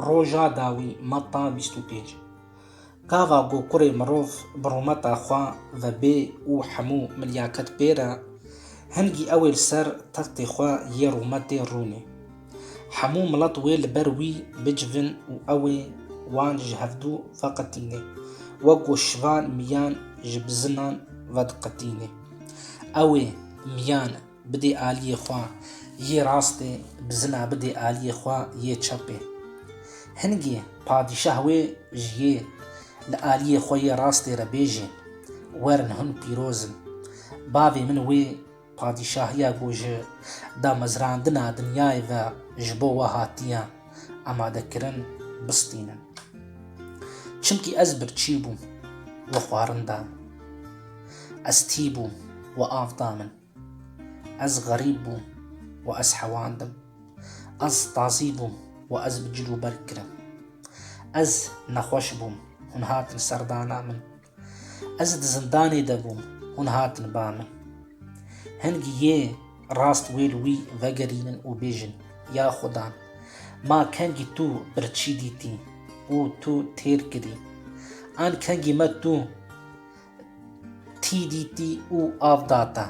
Roja dawî, Mata bîst û pênc. Gava ku kurê mirov bi rûmeta xwe ve bê û hemû milyaket pêre, hingî ew ê li ser textê xwe yê rûmetê rûnê. Hemû milet wê li ber wî bicivin û ew ê wan ji hevdû veqetînê, wek ku şivan miyan ji bizinan vediqetînê. Ew ê miyan Bidê aliyê xwe yê rastê, bizina bidê aliyê xwe yê çepê. Hingê padîşah wê ji yê li aliyê xwe yê rastê re bêjê, Werin hûn pîroz in. Bavê min wê padîşahiya ku ji damezrandina dinyayê ve ji bo we hatiye amadekirin, bistînin. Çimkî ez birçî bûm, we xwarin da min. Ez tî bûm, we av da min. Ez xerîb bûm û ez hewandim, ez tazî bûm û ez bi cil û berg kirim. Ez nexweş bûm, hûn hatin ser dana min. Ez di zindanê de bûm, hûn hatin ba min. Hingî yê rast wê li wî vegerînin û bêjin, Ya Xuda, ma kengî tu birçî dîtî û tu têr kirî. An kengî me tu. Tî dîtî û av da te.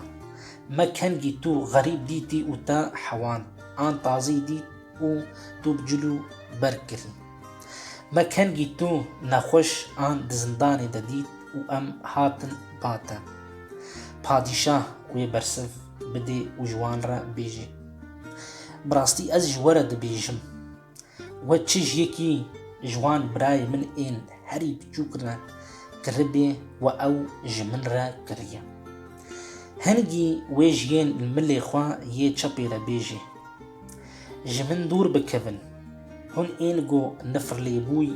Me kengî tu xerîb dîtî û te hewand. An tazî dît û tu bi cilû berg kirî. Me kengî tu nexweş an di zindanê de dît û em hatin ba te. Padîşah wê bersiv bidê û ji wan re bêjê, Bi rastî ez ji we re dibêjim. We çij yekî ji wan birayê min ên herî biçûk re kiribê we ew ji min re kiriye. Hingî wê ji yên li milê xwe yê çepê re bêjê, Ji min dûr bikevin, hûn ên ku nifirlêbûy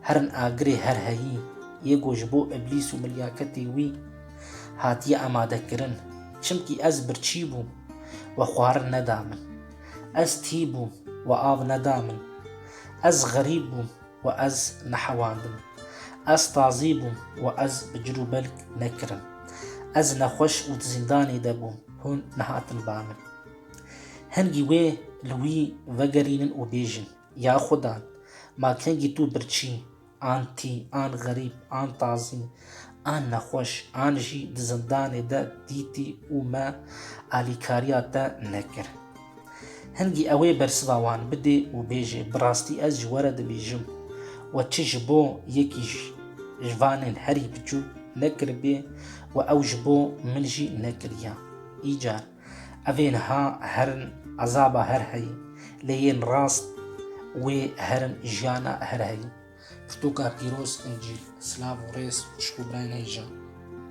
herin agirê her heyî yê ku ji bo îblîs û milyaketê wî hatiye amadekirin, çimkî ez birçî bûm we xwarin neda min. Ez tî bûm û av neda min. Ez xerîb bûm û ez nehewandim. Ez tazî bûm û ez bi cir û belg nekirim. Ez nexweş û di zîndanê de bûm, hûn nehatin ba min. Hingî wê li wî vegerînin û bêjin, Ya Xuda, ma kengî tu birçî, An tî, an xerîb, an tazî, an nexweş, an jî di zindanê de dîtî û me alîkariya te nekir. Hingî ewê bersiva wan bidê û bêjê bi rastî ez ji we re dibêjim we çi ji bo yekî ji vanên herî biçûk nekiribê we ew ji bo min jî nekiriya. Îcar Ev ên ha herin ezaba her heyî, lê yên rast wê herin jiyana her heyî. Pirtûka pîroz, Încîl, silav û rêz ji bo birayên hêja.